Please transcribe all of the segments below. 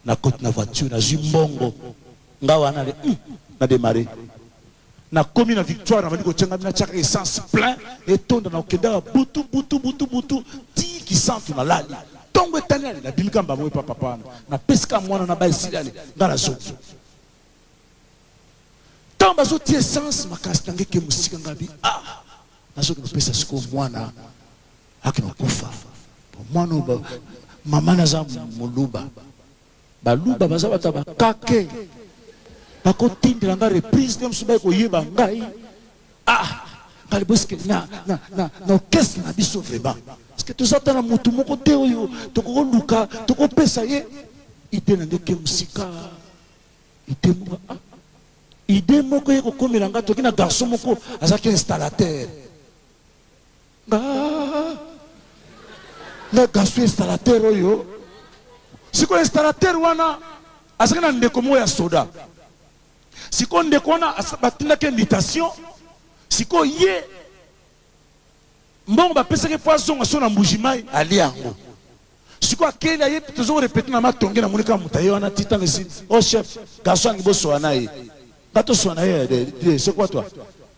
na koti na voiture nazwi mbongo nga wana le hmm, na démarrer nakomi na victoire nabandi kotia ngai natiaka essence plein etonda na kokendaka butu butu butu butu ti kisantu nalali ntongo etani ale nabimika mbango epa papa wana napesika mwana na baesili ale ngai nazongi ntango bazotia essence makasi na ngai ke mosika ngai bi ah nazongi kopesa sikoyo mwana Ake na kufa po mwana oyo mama naza muluba baluba baza bato ya bakake bakotindela nga reprise te mosusu bai koyeba ngai ah ngai boske na, na, na, na orchestre na biso vraiment parceke toza ata na motu moko te oyo tokokoluka tokopesa ye ide na nde ke mosika ide moko ah, ide moko ye kokomela ngai toki na garçon moko azalaki installateur Nga nga Gaston installateur oyo sikoyo installateur wana azalaki na ndeko moko ya soda sikoyo ndeko wana batindaki invitation sikoyo ye mbongo bapesaki mpo azonga so na mbuji mai alia yango Sikoyo akeyi na ye tozo ko repeter na ma tonge na moni kaka mutu aye wana ti tango esi oh chef garçon alingi bo swana ye nga to swana ye eh, eh, eh, c'est quoi toi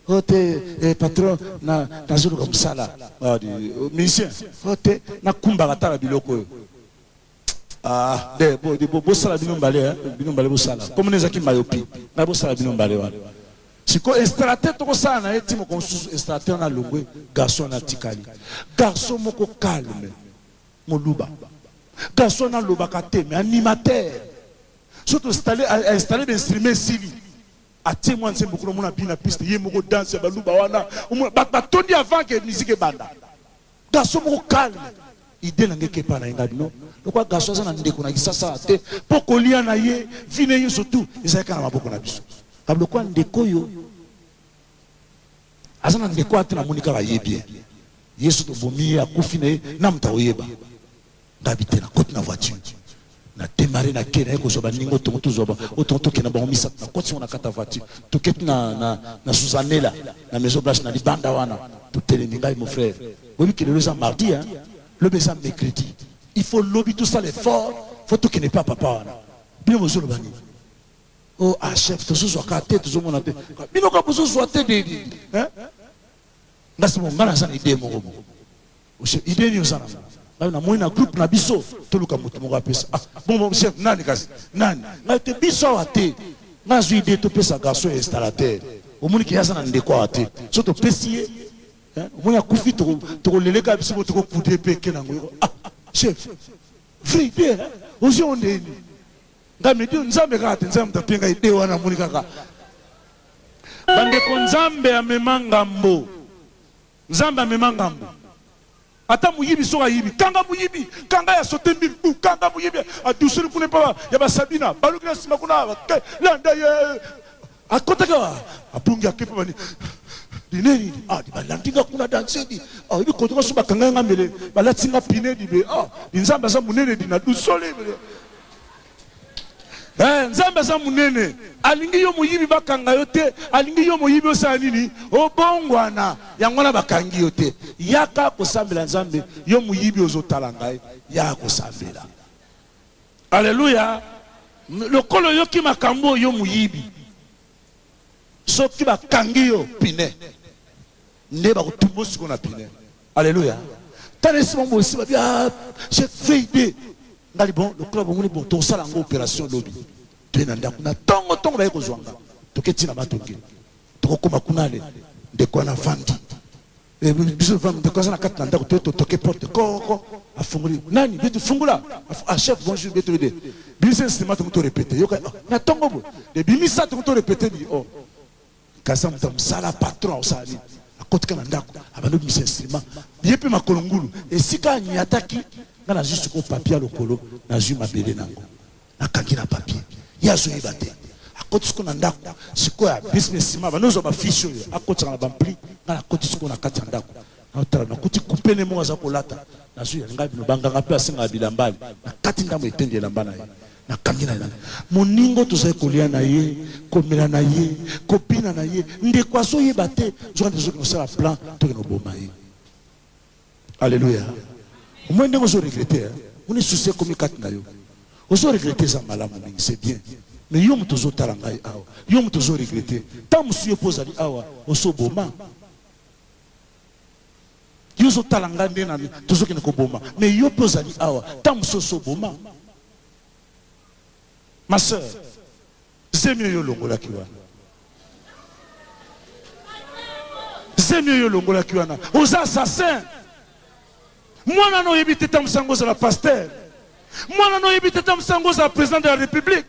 oh te eh, patron na nazo luka musala ah, di, oh, musicien oh te na kumbaka tala biloko oyo ah de bo di bo bosala bino mbale hein eh, bino mbale bosala comme neza ki mayopi na bosala bino mbale wana siko installateur tokosala na ye ti moko mosusu installateur na longwe garçon na tikali garçon moko calme Muluba. Garçon wana alobaka te mais animateur. Soki to installer a installer ba instruments esili. Atie mwa nzembo kuna omona abina piste ye moko danse ya baluba wana. Omona batu batondi avant que musique ebanda. Garçon moko calme. Idee na nga eke epa na ye nga bino lokola garçon aza na ndeko na kisasa awa te po kolia na ye vie na ye nionso tout ezalaki kaka na maboko na biso. Lokola ndeko oyo Aza na ndeko wana te namoni kaka ye bien. Yesu tobomi ye akufi na ye na moto akoyeba nga bite na koti na voiture na demare na ke naye kozwa baninga otongo tozwa otongo tokenda bango misato na koti yango na kata voiture toketi na, na, na suzanela na maison blanche na libanda wana totelemi ngai mon frère boyebi ke lelo eza mardi hein? lobi eza mercredi il faut lobi tosala effort faut tokende mpe ya papa wana bino bozoloba nini Oh ah chef tozozwa ka te tozomona te bino ka bozozwa te de hein ngasi mo ngana sana idée moko moko oshe idée nini oza nango ngai namoni na groupe na biso toluka moto moko apesa ah bon bon chef nani kasi nani ngai te biso awa te ngai azwi idée topesa garçon ya installateur omoni ke aza na ndeko awa te so topesi ye omoni akufi tokoleleka biso mo tokokude mpe eke nango ah chef vrai idée ozwi onde nini Nga midi oyo nzambe kaka te nzambe mutu apie nga ide wana amoni kaka bandeko nzambe amema ngambo nzambe amema ngambo ata moyibi soki ayibi kanga moyibi kanga ya sote mbili u kanga moyibi adusoli kuna epa ya basabina baluki na nsima kuna landa ye Akotaki awa, abungi ake mpe bani dineni ah di balandi nga kuna danse di ah ebi koto nga so bakanga nga mbele balati nga pine di be ah di nzambe aza munene di na dusole mbele eh nzambe aza munene alingi yo moyibi bakanga yo te alingi yo moyibi osala nini obongwana yango wana bakangi yo te yaka kosambela nzambe yo moyibi ozotala ngai yaka kosambela Alleluia lokola oyoki makambu oyo yo muyibi soki ba kangi yo pine nde ba kotumbo siko na pine Alleluia tala esima bosi ba bia ah, je fade ngali bon lokola bomoni bon to sala ngo operation lobi to na ndaku na tongo tongo ba yeko zwanga to keti na matongi to kokoma kunale ndeko na fandi Eh, biso ndeko aza na kati na ndako te totoke porte koko afungoli nani bietu fungula ah chef bonjour bietu ede bimisa nsima tongo to repete yoka ah, na tongo bo de bimisa tongo to repete bi o oh. kaza moto ya mosala patron osala nini akotika na ndako abandi obimisa nsima ye mpe makolo ngulu esika anyataki nga nazwi sikoyo papia lokolo nazwi mabele na yango Nakangi na papier. Ye azo yeba te. Akotisi ko na ndako. Sikoyo a bis me sima bando zwa ba fiche oyo akotisaka na bampli. Nga na koti sikoyo na kati ya ndako. Nao tala na kuti kupe ne moko aza kolata. Nazwi ya nga bino ba nganga mpe basengaka bilamba ale. Na kati ndambo ya eteni ya elamba na ye. Na kangi na elamba. Moningo tozali kolia na ye, komela na ye, kobina na ye. Ndeko azo yeba te. Nzoka nde tozo kende kosala plan tokende koboma ye. Alleluia omoni ndenge ozo regrette hein omoni souci ekomi kati na yo ozo regrette eza malamu mingi c'est bien mais yo moto ozo tala ngai awa yo moto ozo regrette temps mosusu yo pe ozali awa oso boma yo ozo tala ngai nde na tozo kende ko boma mais yo pe ozali awa temps mosusu oso boma ma sœur Zemi oyo olongolaki wana. Zemi oyo olongolaki wana. Oza assassin. Mwana no oyebi te tamusa ngo ozala pasteur. Mwana no oyebi te tamusa ngo ozala president de la republique.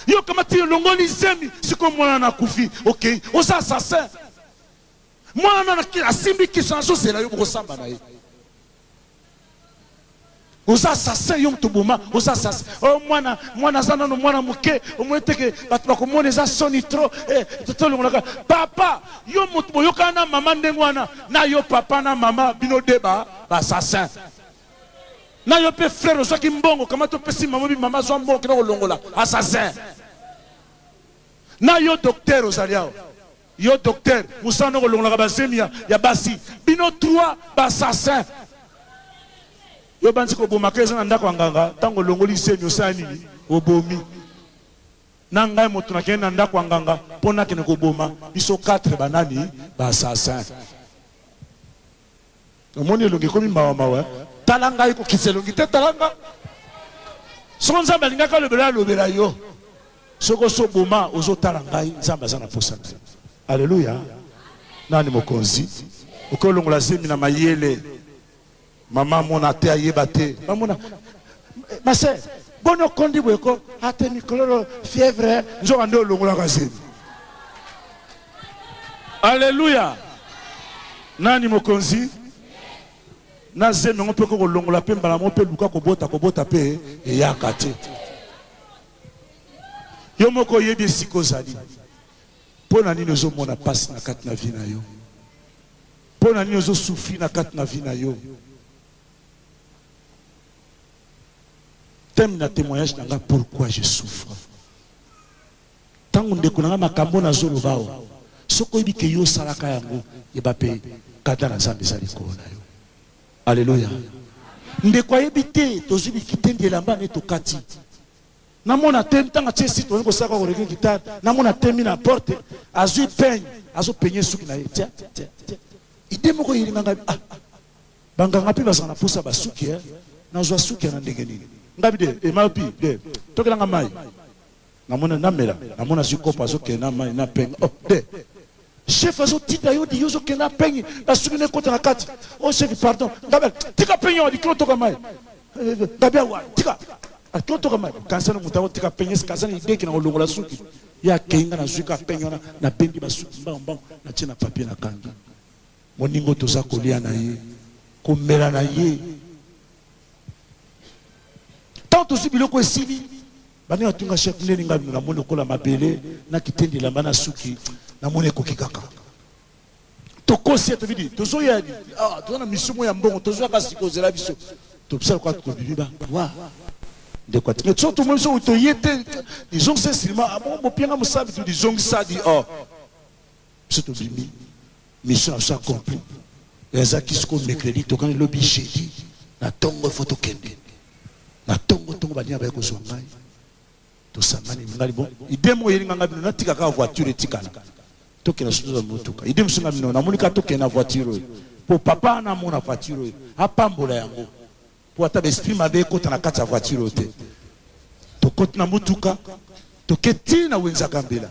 Yo kamati olongoli zemi siko mwana na kufi. Okay. Oza assassin. Muana asimbi kisi azo zela yo boko samba na ye. oza assassin yo moto boma oza assassin o oh, mwana mwana aza nano mwana moke omoni teke bato bakomona eza soni tro eh, tolongolaka papa yo moto boyokana na mama ndenge wana na yo papa na mama bino de ba assassin na yo mpe frere ozwaki mbongo kama topesi mama bi mama azwa mbongo kina kolongola assassin na yo docteur ozali awa Yo docteur musala no kolongolaka ba zemi ya ya basi bino trois ba assassin yo banzi koboma ka eza na ndako ya nganga tango olongoli zemi osala nini obomi na ngai moto nakende na ndako ya nganga mpo nakende koboma biso 4 banani ba assassin omoni elongi ekomi mawa mawa eh? tala ngai kokitisa elongi te tala nga soko nzambe alingaki alobela alobela yo soko osi oboma ozotala ngai nzambe aza na posa te aleluya nani mokonzi okolongola zemi na mayele mama amona te ayeba te bamona mase boni okondi boyeko ate mikololo fièvre nzoka nde olongolaka zemi Alleluia! Nani mokonzi? Na zemi yango mpe kokolongola mpe mbala moko mpe luka kobota kobota mpe eyaka te. Yo moko oyebi esika ozali. Mpo na nini ozomona mpasi na kati na vi na yo? Mpo na nini ozosufri na kati na vi na yo? Teme na témoignage na nga pourquoi je souffre. Tango ndeko na nga makambo na zo loba oyo soki oyebi ke yo osalaka yango yeba pe kanda na zambe eza likolo na yo aleluya ndeko ayebi te tozwi bikitendi elamba ne tokati namona te ntango atie site olingi kosala kaka koleke gitare namona temi na porte azwi peigne azopenye suki na ye tia tia tia ide moko eyelinga ngai ah, ah. banganga mpe bazala na mposa basuki eh. nazwa suki ya na ndenge nini ngai bide emayopi de tokelanga mai Namona namela namona zui kopo azo kende na mayi na penge oh de chef azo tinda yo di yo ozo kende na penge na suki ne kota na kati oh chef pardon ngabel tika penge wa dikilo toka mayi ngabel wa tika akilo toka mayi kansa na mutako tika penge kansa na ideki na kolongola suki ye akei nga nazwi ka penge wana nabendi basuki mbango mbango natie na papie na kangi moningo toza kolia na ye komela na ye ntango tozwi biloko esili Banda na tunga chef ndeni nga na moni lokola mabele na kitendi lamba na suki na moni ekoki kaka tokosi etobi di tozo ya ah tozo na mission mo ya mbongo tozo ya kasi kozela biso tobisa kwa tobimi ba wa ndeko atinga so to moni so to yete disons c'est seulement ah bon bopianga musabi tu disons ça dit oh biso tobimi mission na biso accompli mais eza ki sikoyo mercredi tokani lobi jeudi na ntongo ifo tokende na ntongo ntongo baninga baye kozwa ngai tosangani ngai bon ide moko eyeli nganga bino natika kaka voiture etikala tokenda soki tozwa motuka ide mosusu nga bino namoni kaka tokenda voiture oyo mpo papa wana amona voiture oyo apambola yango mpo ata baesprit mabe ekota na kati ya voiture oyo te tokoti na motuka toke tii na wenzaka mbela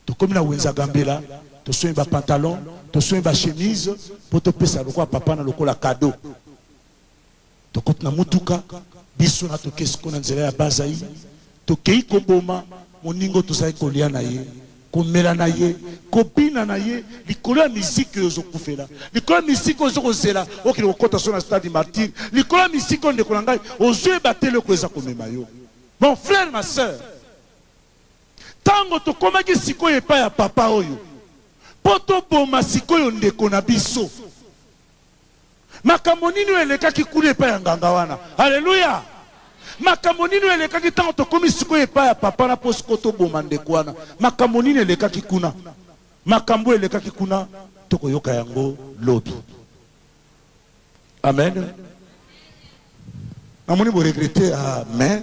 Tokomi na wenze ya Gambela, tosombi ba pantalons, tosombi ba chemises po topesa lokola papa na lokola cadeau. Tokoti na motuka, biso na toke sikoyo na nzela ya Bas-Zaïre. Tokei koboma moninga oyo tozalaki kolia na ye, komela na ye, kobina na ye likolo ya miziki oyo ozo kufela, likolo ya miziki oyo ozo kozela okende kokota solo na Stade du Martyre, likolo ya miziki oyo ndeko na ngai ozoyeba te eloko ezakomema yo. Mon frère, ma sœur, Tango tokomaki sikoyo epai ya papa oyo mpo toboma sikoyo ndeko na biso, makambo nini oyo elekaki kuna epai ya nganga wana? Aleluya! Makambo nini oyo elekaki ntango tokomi sikoyo epai ya papa wana mpo sikoyo toboma ndeko wana? Makambo nini elekaki kuna? Makambo oyo elekaki kuna, tokoyoka yango lobi. Amen. Namoni boregrete. Amen.